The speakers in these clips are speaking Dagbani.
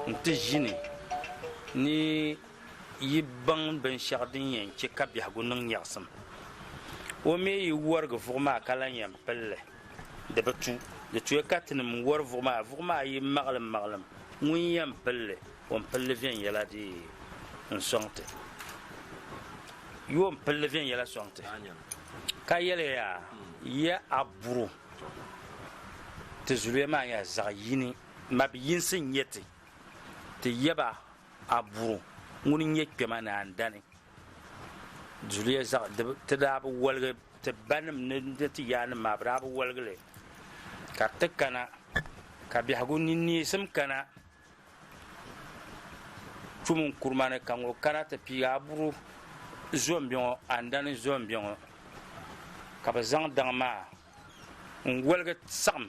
N-ti ʒini ni yi baŋ binshɛɣu din yɛn chɛ ka biɛhigu niŋ nyaɣisim. O mi yi wɔrigi vuɣu maa ka lan yɛn pili li, di bi tu. Di tuya ka tinim n-wɔri vuɣu maa, vuɣu maa yi maɣilimmaɣilim, ŋun yɛn pili li? Yuon pilli viɛnyɛla dii n-sɔŋ ti. Yuon pilli viɛnyɛla sɔŋ ti, ka yɛli ya, Yɛ a buri o. Ti zuliya maa nyɛla zaɣ yini. Mabiyinsi n-nyɛ ti. Ti yɛ ba a buri o, ŋuni n-nyɛ kpɛma ni andani. Zuliya zaɣ dibu, ti daa bi woligi, ti banim ni ti yaannim maa, bɛ daa bi woligi li. Ka ti kana, ka biɛhigu ni neesim kana Tum n kurima ni ka ŋɔ kana ti pii aburu zombi ŋɔ andani zombi ŋɔ ka bi zaŋ daŋ maa n woligi saɣam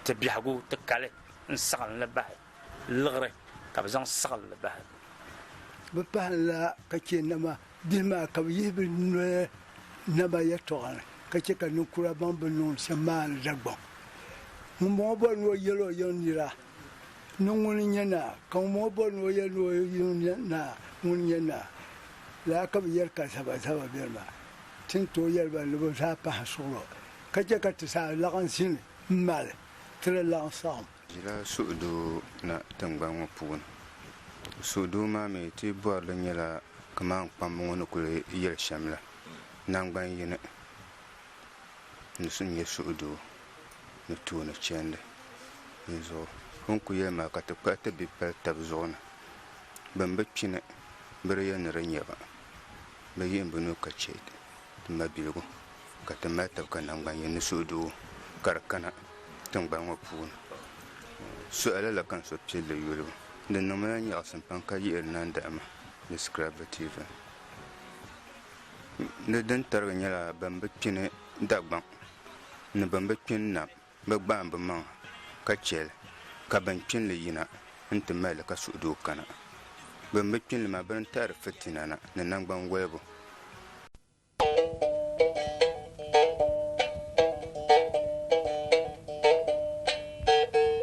ti biɛhagu ti kali n saɣamli bahi liɣiri ka bi zaŋ saɣamli bahi bi pahanla ka chɛ nama bihi maa ka bi yihi bi noli nama yɛltɔɣa ni ka chɛ ka ninkura baŋ bi niŋdi shɛm maa ni dagbaŋ ŋunbɔŋɔ bɔri ni o yɛl o yiŋ nira Ni ŋuni n-nyɛ naa? Ka ŋun bɔŋɔ bɔri ni o yɛli ni o yino n-nyɛ naa, ŋuni n-nyɛ naa? Lala ka bɛ yɛli ka zabazaba beni maa. Ti ni tooi yɛli ba ni bɛ zaa pahi suɣilɔ ka chɛ ka ti zaa laɣim zini m-mali ti ni laɣim saɣim. Bɛ ʒila suhudoo na tiŋgbani ŋɔ puuni. Suhudoo maa mi ti bɔri li nyɛla kaman kpamba ŋɔ ni kuli yɛli shɛm la, Naŋgban yini n-nyɛ suhudoo. ni tooni chɛndi n zuɣu. O ni ku yɛli maa ka ti kpuɣi ti bihi pali tab zuɣu ni bɛn bi kpi ni bɛ di yɛli ni di nya ba, bɛ yihi bɛ nuu ka chɛ ti mabiligu ka ti mali tab ka naŋgban yini ni suhudoo ka di kana tiŋgbani ŋɔ puuni. Suhi lala ka n so pilli yuli o. Di niŋmi la nyaɣisim pam ka yihiri nandahima ni scrapbotivin ni din tarigi nyɛla bɛn bi kpi ni Dagbaŋ. ni bɛn bi kpini na bɛ gbaai bɛ maŋa ka chɛ li ka bɛn kpini li yina nti mali li ka suhudoo kana. Bɛn bi kpini li maa bɛ ni taari fitina na ni naŋgban wolibu.